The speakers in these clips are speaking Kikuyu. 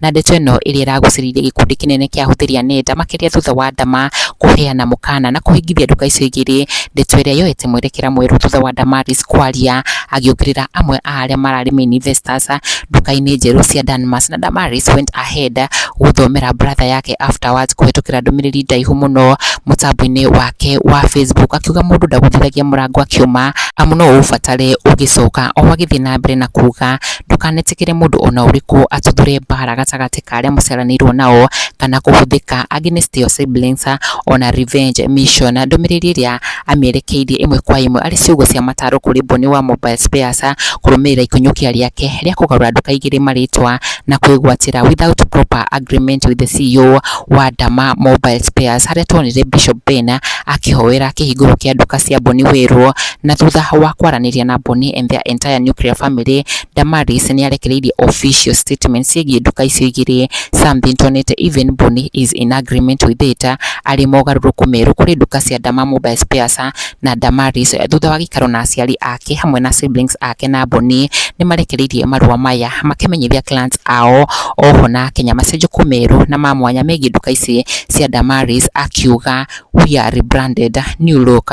na ndeto ĩno ĩrĩa ĩragucĩrĩirie gĩkundi kĩnene kĩa ahũthĩri a nenda makĩria thutha wa Adama kũheana mũkana na kũhingithia nduka icio igĩrĩ ndeto ĩrĩa yoete mwerekera mwerũ thutha wa Damaris kwaria agĩũkĩrĩra amwe a arĩa mararĩ main investors nduka-inĩ njerũ cia Danmas na Damaris went ahead gũthomera brother yake afterwards kũhĩtũkĩra ndũmĩrĩri ndaihu mũno mũtambo-inĩ wake wa Facebook akiuga mũndũ ndagũthithagia mũrango akiuma amu no ũũbatare ũgĩcoka. Oho agĩthiĩ na mbere na kuuga ndũkanetĩkĩre mũndũ ona ũrĩkũ atuthũre mbara gatagatĩ ka arĩa mũciaranĩirwo nao, kana kũhũthĩka against your siblings on a revenge mission. Ndũmĩrĩri ĩrĩa amĩerekeirie ĩmwe kwa ĩmwe arĩ ciugo cia mataro kũrĩ Bonny wa Mobile Spares, kũrũmĩrĩra ikũnyũkia rĩake rĩa kũgarũra andũ kaigĩrĩ marĩtwa na kwĩgwatĩra without proper agreement with the CEO wa Dama Mobile Spares, harĩa tuonire Bishop Ben akĩhoera kĩhingũro kĩa nduka cia Bonny Wĩrũ Na thutha wa kwaranĩria na Bonny and their entire nuclear family, Damaris nĩarekereirie official statement ciĩgiĩ nduka icio igĩrĩ, something tuonete even Bonny is in agreement with it, arĩ mogarũrũku merũ kũrĩ nduka cia Dama Mobile Spares na Damaris. Thutha wa gĩikaro na aciari ake hamwe na siblings ake na Bonny, nĩmarekereirie marũa maya makĩmenyithia clans ao oho na Akenya macenjũku merũ na ma mwanya megiĩ nduka ici cia Damaris, akiuga, We are rebranded, new look.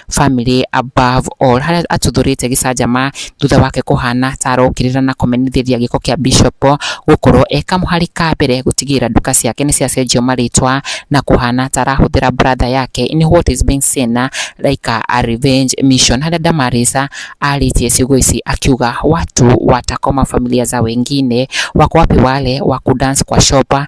family above all harĩa atuthũrĩte gĩcanjama thutha wake kũhana ta arokĩrĩra na kũmenyithĩria gĩko kĩa Bishop gũkorwo e kamũhari ka mbere gũtigĩrĩra nduka ciake nĩ ciacenjio marĩtwa na kũhana ta arahũthĩra brother yake in what is being seen like a revenge mission harĩa Damaris arĩtie ciugo ici akiuga watu watakoma familia za wengine wako wapi wale wa kudance kwa shopa